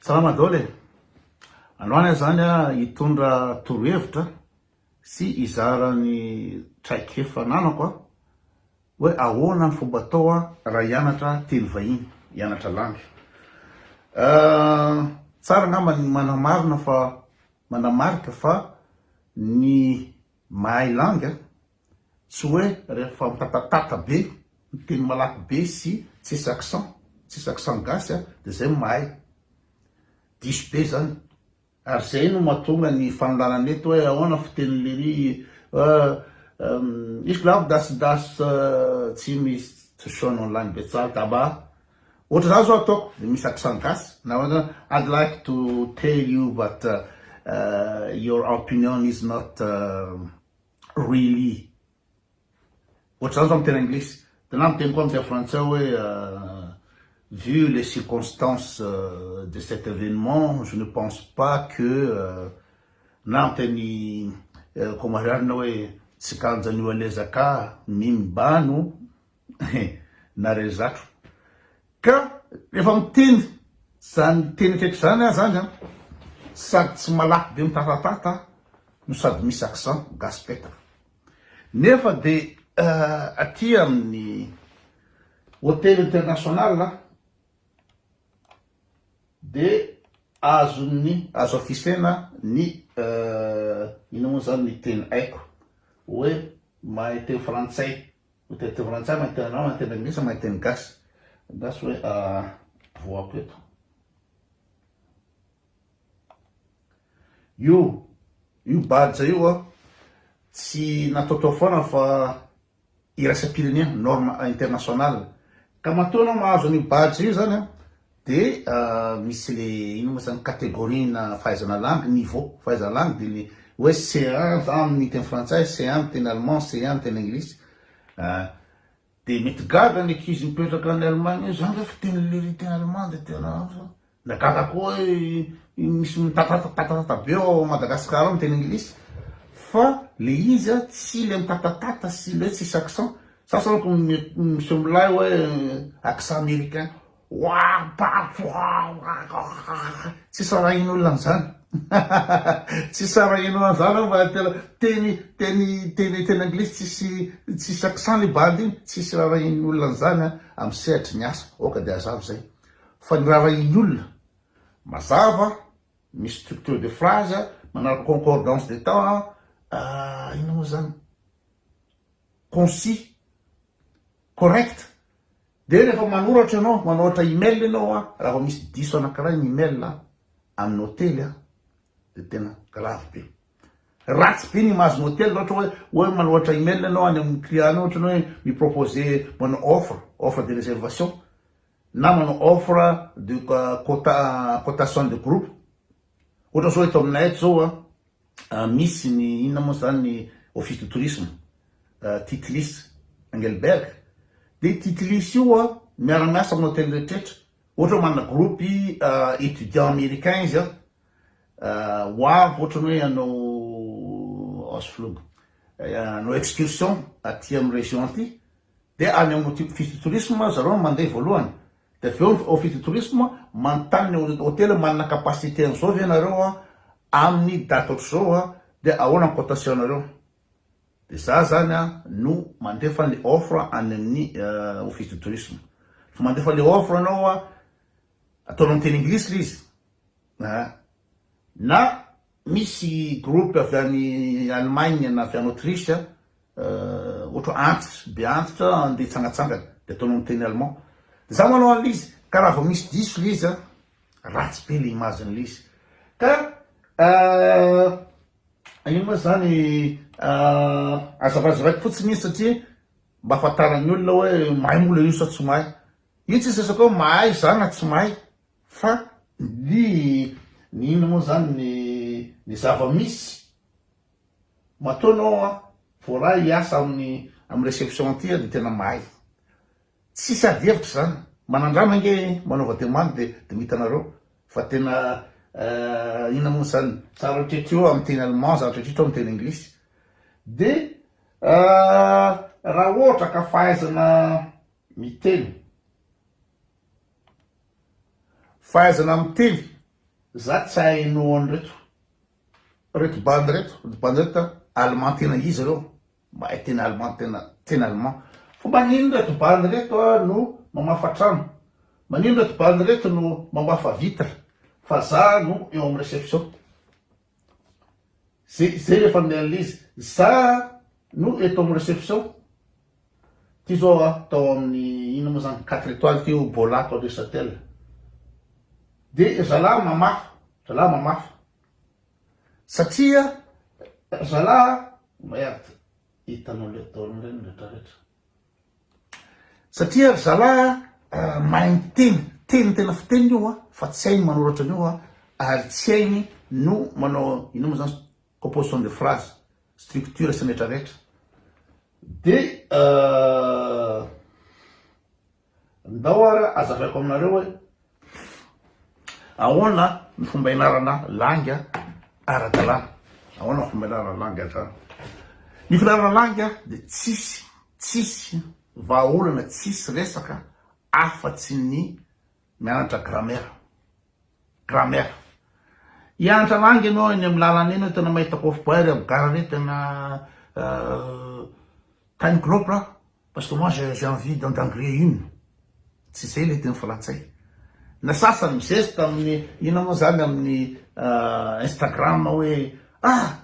Salama daholo e! Androany aho zany hitondra torohevitra sy hizara ny traikefa ananako a, hoe ahoana ny fomba atao a raha hianatra teny vahiny, hianatra langue. Tsara angamba ny manamarina fa, manamarika fa ny mahay langue a, Tsy hoe rehefa mitatatata be, miteny malaky be sy tsisy accent, tsisy accent gasy dia izay no mahay. Diso be izany. Ary izay no mahatonga ny fanolanana eto hoe ahoana fiteny lery eh, izy lavo das das tsy misy tsy shown online betsaha daba ohatra za zao ataoko dia misy accent gasy na hoe I'd like to tell you but your opinion is not Really. Ohatr'izany zao amin'ny teny anglisy. Dia na miteny koa amin'ny teny frantsay hoe Vu les circonstances de cet événement, je ne pense pas que na amin'ny teny komarianina hoe Tsikanjan'io alezaka mim bano Hein! Nare zatro ka refa miteny zany teny akaiky zany ah zany an! Sady tsy malaky be mitatatata no sady misy accent gasy petaka. Nefa de aty aminy hotel international an! De azony azo afisena ny ino mo zany ny teny aiko oe mahay teny frantsay Ho teny frantsay na teny arabo na teny anglisy na teny gasy. Gasy hoe voako eto. Io, io badge io an, tsy nataotao foana fa iraisam-pirenena, norme internationale. Ka matoa ianao mahazo an'io badge io zany an, Dia misy le inona moa zany categorie-na fahaizana langue, niveau fahaizana langue dia ny hoe C1 za amin' ny teny frantsay, C1 amin' ny teny allemand, C1 amin' ny teny anglisy ah. Dia mety gaga ny ankizy mipetraka any Allemagne hoe za nge fa tena lery teny allemand dia tena ah. Na gaga koa hoe iny misy mitatatatata be ao Madagasikara ao ny teny anglisy fa le izy ah tsy le mitatatata sy le hoe tsisy accent. Sasany ohatra miseho milay hoe accent américain. Tsy sarahin'olona an'izany. Tsy sarahin'olona an'izany aho fa tena teny teny teny teny anglisy tsisy tsisy accent le bandy iny, tsy sarahin'ny olona an'izany aho amin'ny sehatry ny asa, aoka dia hazava izay. Fa ny raharahian'ny olona, mazava, misy structure de phrase, manaraka concordance des temps, inona moa izany, concis, correct. Dia rehefa manoratra ianao, manoatra email ianao an, raha vao misy diso anankiray ny email an, amin'ny hotely an, dia tena grave be. Ratsy be ny image-n'ny hotely raha ohatra hoe, hoe manoatra email ianao any amin'ny client-nao ohatra ny hoe mi-proposer manao offre, offre de réservation, na manao offre de quota, cotation de groupe. Ohatra izao eto aminay eto izao an, Misy ny inona moa izany ny Office du Tourisme, Titlis, Engelberg. Dia io Titlis io miara-miasa amin'ny hotely rehetrarehetra. Ohatra hoe manana groupe étudiants américains izy an, ho avy ohatra ny hoe hanao Ausflug, hanao excursion aty amin'ny région aty, dia any amin'ny Office du Tourisme zareo no mandeha voalohany. Dia avy eo ny Office du Tourisme manontany ny hotely hoe manana capacité an'izao ve ianareo amin'ny date ohatr'izao dia ahoana ny cotation-nareo? Dia izaho izany no mandefa ny offre any amin'ny Office du Tourisme. Rehefa mandefa ilay offre ianao, ataonao amin'ny teny Anglisy ilay izy, na. Misy groupe avy any Allemagne na avy any Autriche ohatra antitra, be antitra andeha hitsangatsangana dia ataonao miteny allemand. Dia za manao an'ilay izy ka raha vao misy diso ilay izy ratsy be ilay image n'ilay izy ka ino moa izany azavazavaiko fotsiny izy satria mba ahafantaran'ny olona hoe mahay moa ilay izy sa tsy mahay. Io tsy resaka hoe mahay za na tsy mahay Fa ny ny inona moa izany ny ny zava-misy. Matoa ianao an, voaraha hiasa amin'ny amin'ny réception aty an, dia tena mahay. Tsisy ady hevitra izany. Manandrana ange manaova demande dia dia ho hitanareo fa tena eh, inona moa izany, za rehetrarehetra eo amin'ny teny allemand, za rehetrarehetra eo amin'ny teny anglisy. Dia ah, raha ohatra ka fahaizana miteny, Fahaizana miteny za tsy ahay no an'ireto reto bandy reto reto bandy reto allemand tena izy reo mahay teny allemand tena teny allemand fa manino reto bandy reto no mamafa trano manino reto bandy reto no mamafa vitre fa za no eo amin'ny reception Ze zay le familian'le izy. Za no eto amin'ny reception. Ty zao a, tao amin'ny inona moa zany, quatre étoiles ty o, Bola ato aloha Isatel. De zalahy mamafa, zalahy mamafa. Satria zalahy, merde, hitanao le ataonao reny retraretra. Satria ry zalahy a, mahay miteny, teny tena fiteniny io a, fa tsy hainy manoratra an'io a, ary tsy hainy no manao inona moa zany, composition de phrase, structure sy ny rehetra rehetra. Dia ndao ary azavaiko aminareo hoe Ahoana ny fomba ianarana langy ara-dalàna? Ahoana ny fomba ianarana langy ara-dalàna? Ny fianarana langy dia tsisy, tsisy vahaolana, tsisy resaka afa-tsy ny mianatra grammaire, grammaire. Hianatra langy ianao eny amin'ny lalana eny, tena mahita kôfobay ry Abgara re, tena tiny groupe. Parce que moi j'ai j'ai envie d'en d'engrais une tsy zay le teny frantsay na sasany mizesta amin'ny inona moa zany amin'ny instagram hoe ah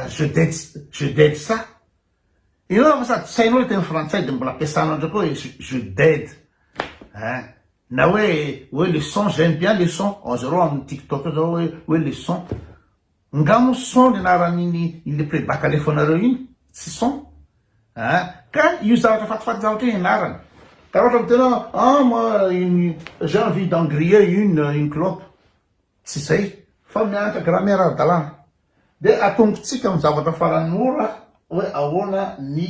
je date je date ça inona fa sady tsy hainao le teny frantsay de mbola ampiasanao ndraiky hoe je date hein na hoe hoe le son j'aime bien le son azareo amin'ny tiktok zao hoe hoe le son Nga mo son ny anaran'iny ilay playback alefanareo iny? Tsy son a! Ka io zavatra fatifaty zavatra io ianarana. Karaha ohatra miteny hoe ah moi une j'ai envie d'en griller une une clope. Tsy izay fa mianatra grammaire ara-dalàna. Dia atombotsika amin'ny zavatra farany mora hoe ahoana ny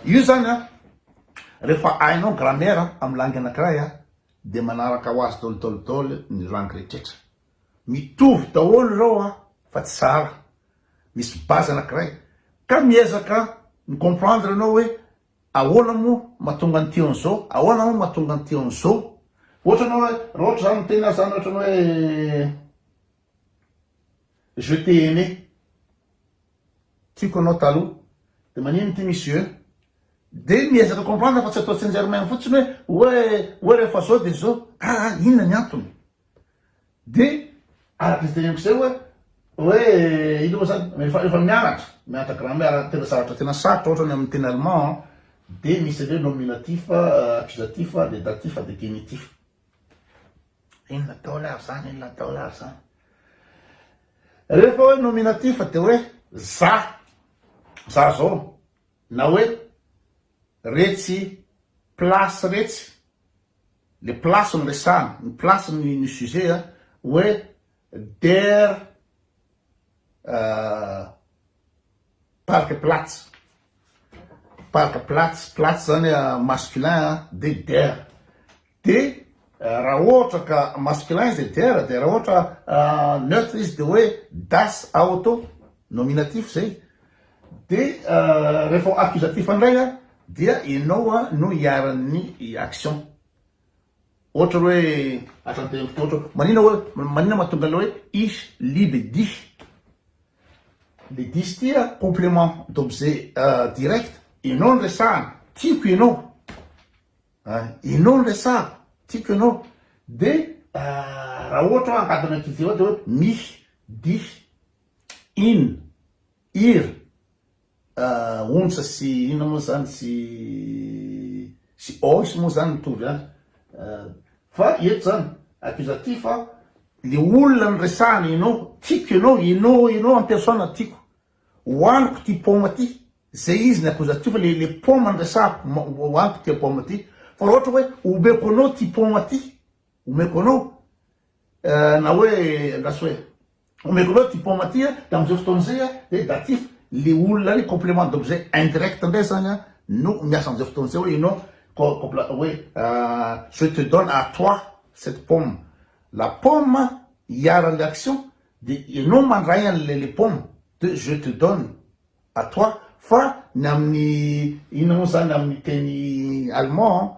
io izany a! Rehefa hainao grammaire amin'ny langue anankiray a! dia manaraka ho azy daholo daholo daholo ny langue rehetra. Mitovy daholo ireo an! fa tsy sahala, misy base anankiray ka miezaka mi comprendre ianao hoe ahoana moa mahatonga an'ity an'izao, ahoana moa mahatonga an'ity an'izao. Ohatra ianao hoe raha ohatra za miteny azy zany ohatrany hoe je t'ai aimé, tiako anao taloha, de manino ity misy je, de miezaka comprendre fa tsy atao tsinjermena fotsiny hoe hoe rehefa zao de zao, aa inona ny antony? Dia araka izay teneniko izay hoe, hoe inona moa izany, rehefa rehefa mianatra, mianatra grammaire tena zavatra tena sarotra ohatra ny amin'ny teny allemand an, dia misy an'ireo nominatif, accusatif, dia datif, dia genitif. Inona daholo ary izany, inona daholo ary izany. Rehefa hoe nominatif dia hoe za, za zao, na hoe retsy place retsy. Le place no resahana, ny place no no sujet a, hoe der Parkplatz, Parkplatz, Platz zany masculin a, de der, de raha ohatra ka masculin izy dia der, de raha ohatra neutre izy dia hoe das Auto, nominatif zay. Dia rehefa accusatif indray an, dia ianao an no iharan'ny action. Ohatra hoe hatratehin'to ohatra hoe manina hoe manina mahatonga an'ilay hoe ich liebe dich. Le dich ty an complement d'objet direct, ianao no resahana, tiako ianao, ianao no resahako, tiako ianao. Dia raha ohatra hoe angady an'akizy dia hoe mich dich. in, ir, onsa sy inona moa izany sy sy ois moa izany mitovy ihany fa eto izany accusatif a, le olona noresahana ianao, tiako ianao, ianao ianao en personne tiako, hohaniko ity paoma ity, zay izy ny accusatif fa le le paoma no resahako, hohaniko ity paoma ity, fa raha ohatra hoe omeko anao ity paoma ity. Omeko anao eh, na hoe andraso hoe omeko anao ty paoma ty eh, da amin'izay fotoana izay eh, dia datif le olona le complément d'objet indirect indray zany eh, no miasa amin'izay fotoana izay hoe ianao compla- hoe eh, je te donne à toi cette pomme la pomme iharan'le action dia ianao mandray an'le le pomme de je te donne à toi fa ny amin'ny inona moa zany amin'ny teny allemand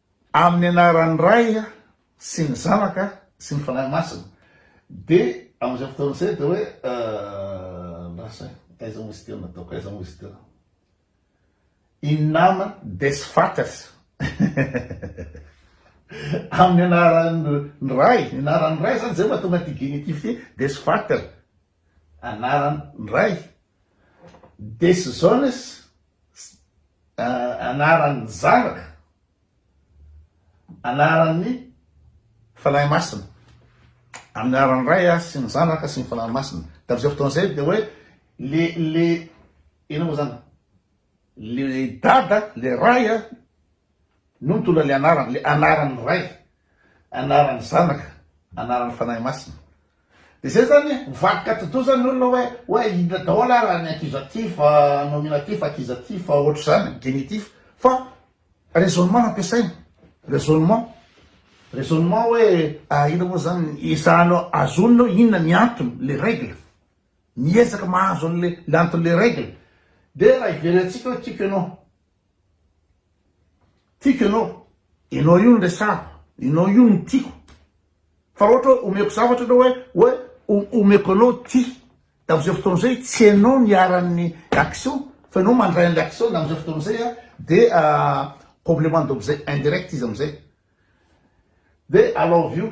Amin'ny anaran'ny Ray sy ny Zanaka sy ny Fanahy Masina. Dia amin'izay fotoana izay dia hoe lasa aiza moa izy ity no nataoko, aiza moa izy ity no. In nama des Vaters. Amin'ny anaran'ny Ray, ny anaran'ny Ray izany izay mahatonga an'ity genitif ity, des Vaters. anaran ndray. Decisões anaran ny zanaka, anaran ny Fanahy Masina. Anaran ny Ray sy ny Zanaka sy ny Fanahy Masina. Tam zay fotoana zay dia hoe le le inona moa zany le Dada le Ray no nitondra le anarany, le anaran ny Ray. Anaran'ny Zanaka, anaran'ny Fanahy Masina. Dia izay izany ho vadika ati-doza ny olona hoe, hoe inona daholo ary ny ankizy aty fa nominatif, ankizy aty fa ohatr'izany, genitif. Fa raisonnement no ampiasaina, raisonnement. Raisonnement hoe, ah inona moa izany, ezahana azonina hoe inona ny antony, les règles. Miezaka mahazo an'ilay anton'ilay règle. Dia raha iverentsika hoe tiako ianao, Tiako ianao, ianao io no resahako, ianao io no tiako. Fa ohatra hoe omeko zavatra ianao hoe hoe omeko anao ty. Dia amin'izay fotoana izay tsy ianao ny iharan'ny action fa ianao mandray an'ilay action dia amin'izay fotoana izay dia complément d'objet indirect izy amin'izay. Dia I love you.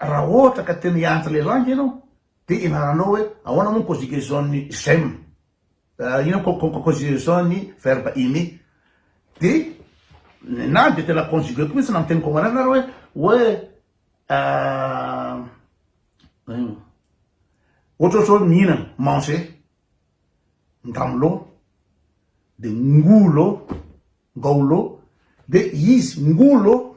Raha ohatra ka tena hianatra ilay langue ianao dia ianaranao hoe ahoana moa ny conjugaison ny j'aime, inona moa ny conjugaison ny verbe aimer, dia nenahy dia tena conjuguer-ko mihintsy na miteny comore na hoe hoe ohatrohatra hoe mihinana, manger, ngamlo, dia ngolo, ngaolo, dia izy, ngolo,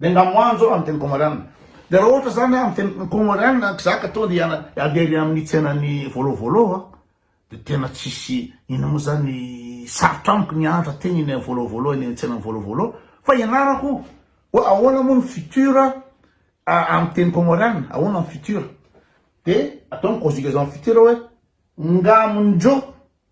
Dia nga moan zao amin'ny teny kômôrianina. Dia raha ohatra izany amin'ny teny kômôrianina kizaka tonga dia handeha any amin'ny tsenan'ny Vôlô Vôlô aho dia tena tsisy inona moa izany sarotra amiko ny hahantra teny eny amin'ny Vôlô Vôlô eny amin'ny tsenan'ny Vôlô Vôlô fa ianarako hoe ahoana moa ny futur amin'ny teny kômôrianina, ahoana ny futur. Dia atao ny conjugaison futur hoe nga amin-dreo.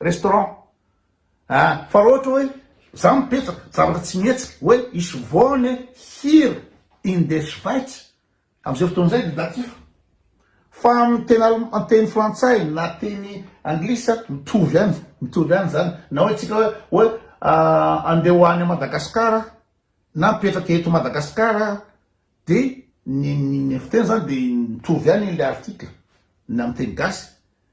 restaurant a! fa raha ohatra hoe za mipetraka zavatra tsy mihetsika hoe hisy voany hira in des schweiz amizay fotoana izay dia datif fa amin'ny teny alem teny frantsay na teny anglisy a mitovy ihany mitovy ihany izany na hoe tsika hoe hoe andeha ho any Madagascar na mipetraka eto Madagascar dia ny ny fiteny izany dia mitovy ihany ilay article na amin'ny teny gasy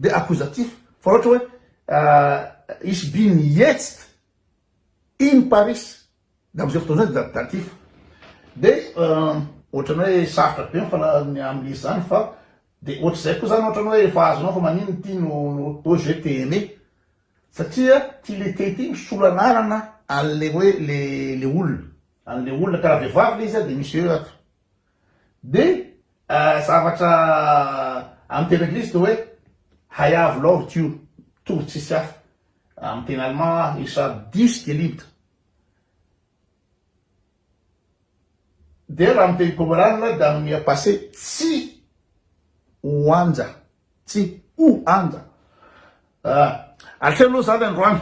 dia accusatif fa ohatra hoe ich bin jetzt in Paris dia amin'izay fotoana izay dia datif dia ohatrany hoe sarotra be ny fanalazana amin'ny izy izany fa dia ohatr'izay koa izany ohatrany hoe efa azonao fa maninona ity no hoe je t'ai aimé satria ity le te ity misolo anarana an'le hoe le olona an'le olona ka raha vehivavy le izy dia misy eo ato Dia zavatra amin'ny teny anglisy dia hoe I have loved you, tory tsisy hafa. Amin'ny teny allemand, ich hab dich geliebt. Dia raha amin'ny teny pomeraniana dia amin'ny passé tsy ho anja. Tsy ho anja. Ah. Aleo aloha zany androany.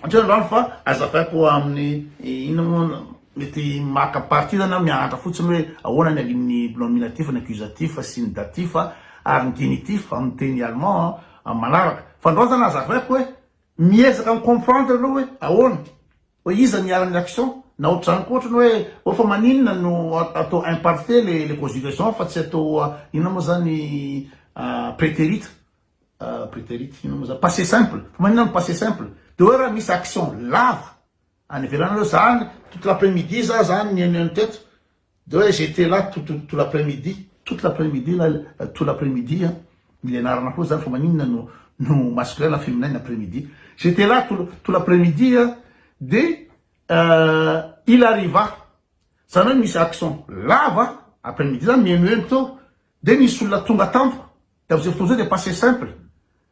Aleo androany fa azavaiko amin'ny inona moa mety maka partie zany aho mianatra fotsiny hoe ahoana ny alin'ny nominatif, ny accusatif sy ny datif ary ny genitif amin'ny teny allemand amin'ny manaraka. Fa androany zany azavaiko hoe miezaka mi-comprendre aloha hoe ahoana. Hoe iza niharan'ny action? Na otrany koa otrany hoe oh fa maninona no atao imparfait le le conjugaison fa tsy atao inona moa zany preterit preterit inona moa zany passe simple fa maninona no passe simple de hoe raha misy action lava any ivelany hoe zany toute l'après midi za zany nihaino an'i teto De oe j'etais là tout tout l'après-midi, toute l'après-midi là, tout l'après-midi an, mila ianarana koa zany fa maninona no no masculin na féminin ny après-midi, j'etais là tout tout l'après-midi an, de il arriva, zany oe misy accent lava, après-midi zany mihemoheno teo, de nisy olona tonga tampoka, de amzay fotoana zay de passé simple,